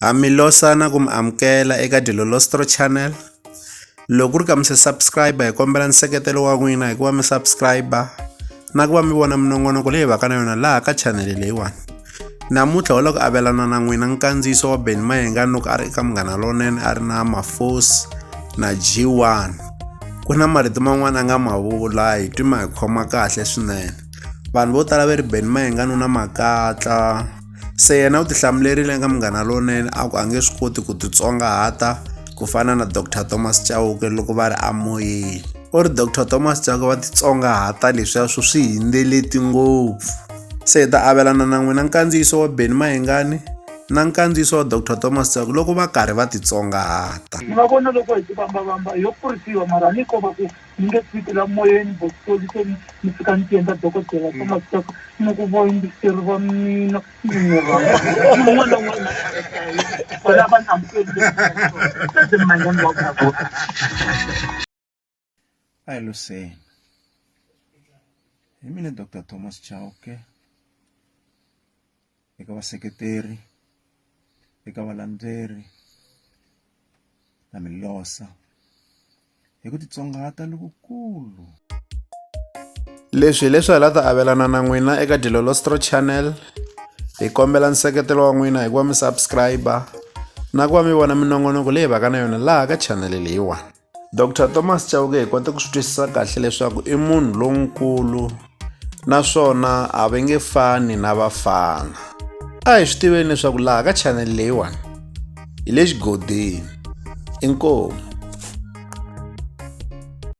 Ha mi losana ku mi amukela eka Dilolostro Channel. Loko ku ri ka mi se subscribe hi kombela nseketelo wa n'wina hikuva mi subscribe na ku va mi vona minongonoko leyi vaka na yona laha ka channel leyiwani. Namuntlha ho loko avelana na n'wina nkandziyiso wa Ben Mayenga loko a ri eka Munghana Lonene a ri na Mafosi na G1. Ku na marito man'wana a nga ma vula hi twi ma hi khoma kahle swinene. Vanhu vo tala va ri Ben Mayenga nuna makatla. Se yena u tihlamulerile ka Munghana Lonene a ku a nge swi koti ku titsongahata ku fana na Dr Thomas Chauke loko va ri amoyeni u ri Dr Thomas Chauke va titsongahata leswiya swo swi hindzeleti ngopfu se hi ta avelana na n'wina nkandziyiso wa Benny Mayengani na nkandziyiso wa Dr Thomas Chauke loko va karhi va titsongahata ni va vona loko hi tibambabamba yo kurisiwa mara ni ko va ku ni nge tshiki la moyeni bokutoli se ni ni fika ni ti endla dokodela se masitaka ni ku vo yingiseri va mina ni ni rhamba un'wana un'wana vona va ni amukeli se manyani wa vona vo ayi luseni hi mina dr thomas chauke eka vaseketeri eka valandzeri na milosa hi ku titsongahata lokukulu leswi hi leswi hi la ta avelana na n'wina eka dilolostro channel hi kombela nseketelo wa n'wina hi ku va mi subscribe na ku va mi vona minongonoko leyi vaka na yona laha ka chanele leyiwani Doctor Thomas Chauke hi kota ku swi twisisa kahle leswaku i munhu lonkulu naswona a va nge fani na vafana a hi swi tiveni leswaku laha ka chanel leyiwani hi le xigodini inkomu